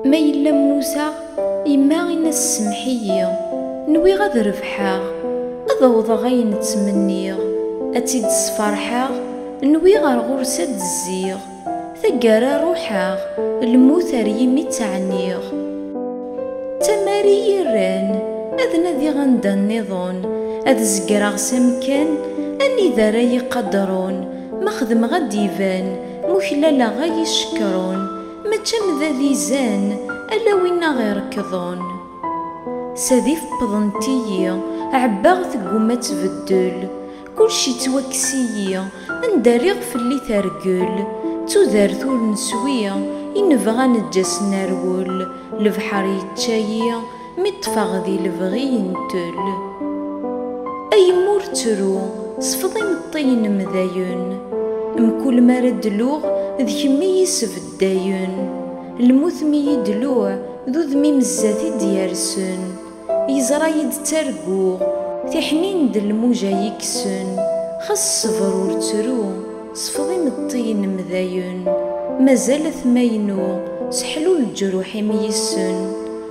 Ma yella mmuteɣ, yemma in-as semmeḥ-iyi, nwiɣ ad rebḥeɣ, ad awḍeɣ ayen ttmenniɣ, ad tt-id-sferḥeɣ, nwiɣ ar ɣur-s ad d-zziɣ, taggara ruḥeɣ, lmut ar yimi tt-ɛniɣ. D tamar i yi-rran ad nadiɣ anda nniḍen, ad zegreɣ s amekkan anida ara yi-qadren, ma xedmeɣ ad d-iban, Muklaleɣ ay icekkṛun, mačči am da d izan, ala win aɣ irekkḍen. Sadi feppḍent-iyi, ɛebbaɣ tegguma ad tbeddel. Kulci yettwakkes-iyi, anda rriɣ fell-i tergel. D tudert ur neswi, i nebɣa neǧǧa-s nerwel. Lebḥeṛ yečča-yi. Mi ṭṭfeɣ di lebɣi yentel. A yemma ur ttru, sfeḍ imeṭṭi-inem dayen. Mkul mi ara d-luɣ, d kemm i yi-sbeddayen. Lmut mi yi-d-luɣ, d udem-im zdat i d-yersen. Yeẓra-yi-d ttarguɣ, tiḥnin d lmuja yi-kksen. Xas sber ur ttru, sfeḍ imeṭṭi-inem dayen. Mazal atmaynu, seḥlu leǧruḥ-im yissen.